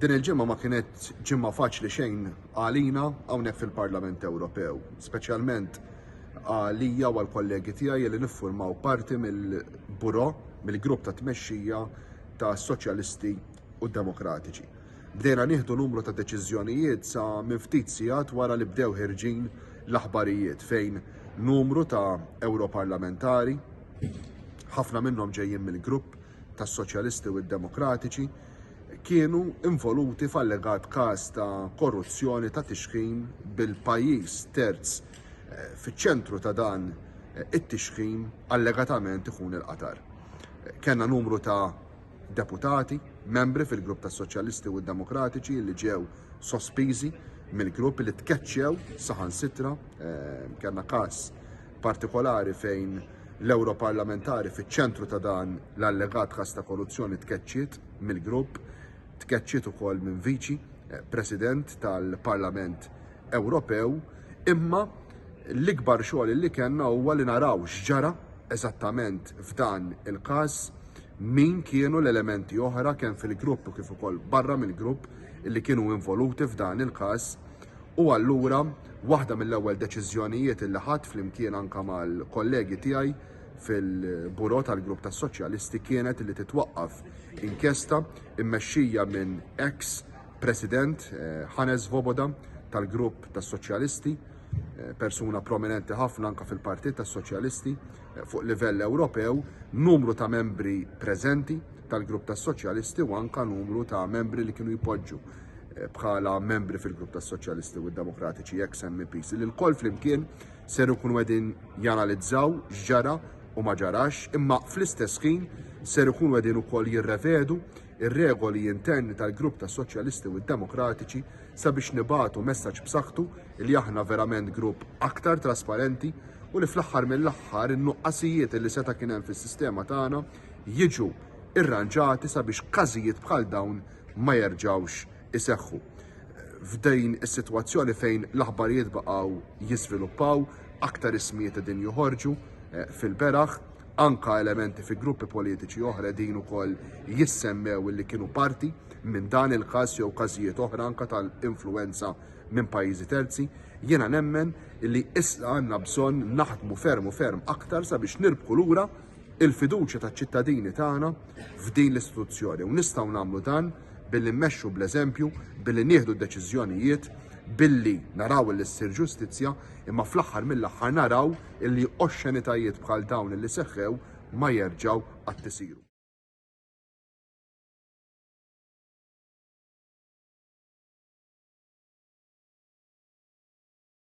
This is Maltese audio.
Din il-ġimgħa ma kienet ġimgħa faċli xejn għalina hawnhekk fil-Parlament Ewropew, speċjalment għalija u għall-kollegi tiegħi li niffurmaw parti mill-buro, mill-grupp ta' tmexxija ta' Soċjalisti u Demokratiċi. Bdejna nieħdu numru ta' deċiżjonijiet sa minn ftit sigħat wara li bdew ħirġin l-aħbarijiet fejn numru ta' Ewroparlamentari, ħafna minnhom ġejjin mill-grupp tas-Soċjalisti u d-Demokratiċi, kienu involuti f'allegat każ ta' korruzzjoni ta' tixħim bil-pajjiż terz eh, fiċ-ċentru ta' dan eh, it-tixħim allegatament ikun il-Qatar. Kenna numru ta' deputati, membri fil-grupp tas soċjalisti u demokratiċi li ġew sospiżi mill-grupp li tkeċċew saħansitra, eh, kellna każ partikolari fejn l-Ewroparlamentari fiċ-ċentru ta' dan l-allegat każ ta' korruzzjoni tkeċċiet mill-grupp, tkeċċiet ukoll minn Viċi eh, President tal-Parlament Ewropew, imma l-ikbar xogħol li kellna huwa li naraw x'ġara eżattament f'dan il-każ min kienu l-elementi oħra kemm fil-grupp u kif ukoll barra mill-grupp li kienu involuti f'dan il-każ U allura, waħda mill-ewwel deċiżjonijiet illi ħadt flimkien anke mal-kollegi tiegħi fil-Bureau tal-Grupp tas-Soċjalisti kienet li titwaqqaf inkjesta mmexxija minn ex President Hannes eh, Voboda tal-Grupp tas-Soċjalisti, eh, persuna prominenti ħafna anke fil-Partit tas-Soċjalisti eh, fuq livell Ewropew, numru ta' membri preżenti tal-Grupp tas-Soċjalisti u anke numru ta' membri li kienu jpoġġu eh, bħala membri fil-grupp tas soċjalisti u demokratiċi ex MPs li l-koll flimkien ser ikunu qegħdin janalizzaw x'ġara u ma ġarax imma fl-istess ħin ser ikunu qegħdin ukoll jirrevedu ir-regoli interni tal-grupp tas soċjalisti u demokratiċi sabiex nibatu messaġġ b'saħħtu li aħna verament grupp aktar trasparenti u li fl-aħħar mill-aħħar in-nuqqasijiet li seta' kien hemm fis-sistema tagħna jiġu irranġati sabiex każijiet bħal dawn ma jerġgħux iseħħu. F'din is-sitwazzjoni fejn l-aħbarijiet baqgħu jiżviluppaw, aktar ismijiet qegħdin joħorġu eh, fil-beraħ, anka elementi fi gruppi politiċi oħra din ukoll jissemmew li kienu parti minn dan il-każ jew każijiet oħra anka tal-influenza minn pajjiżi terzi, jiena nemmen li isla għandna bżonn naħdmu ferm u ferm aktar sabiex nirbku lura il-fiduċja taċ-ċittadini tagħna f'din l-istituzzjoni u nistgħu nagħmlu dan billi mmexxu bl-eżempju, billi nieħdu d-deċiżjonijiet, billi naraw li ssir ġustizzja, imma fl-aħħar mill-aħħar naraw li oxxenitajiet bħal dawn li seħħew ma jerġgħu qatt isiru.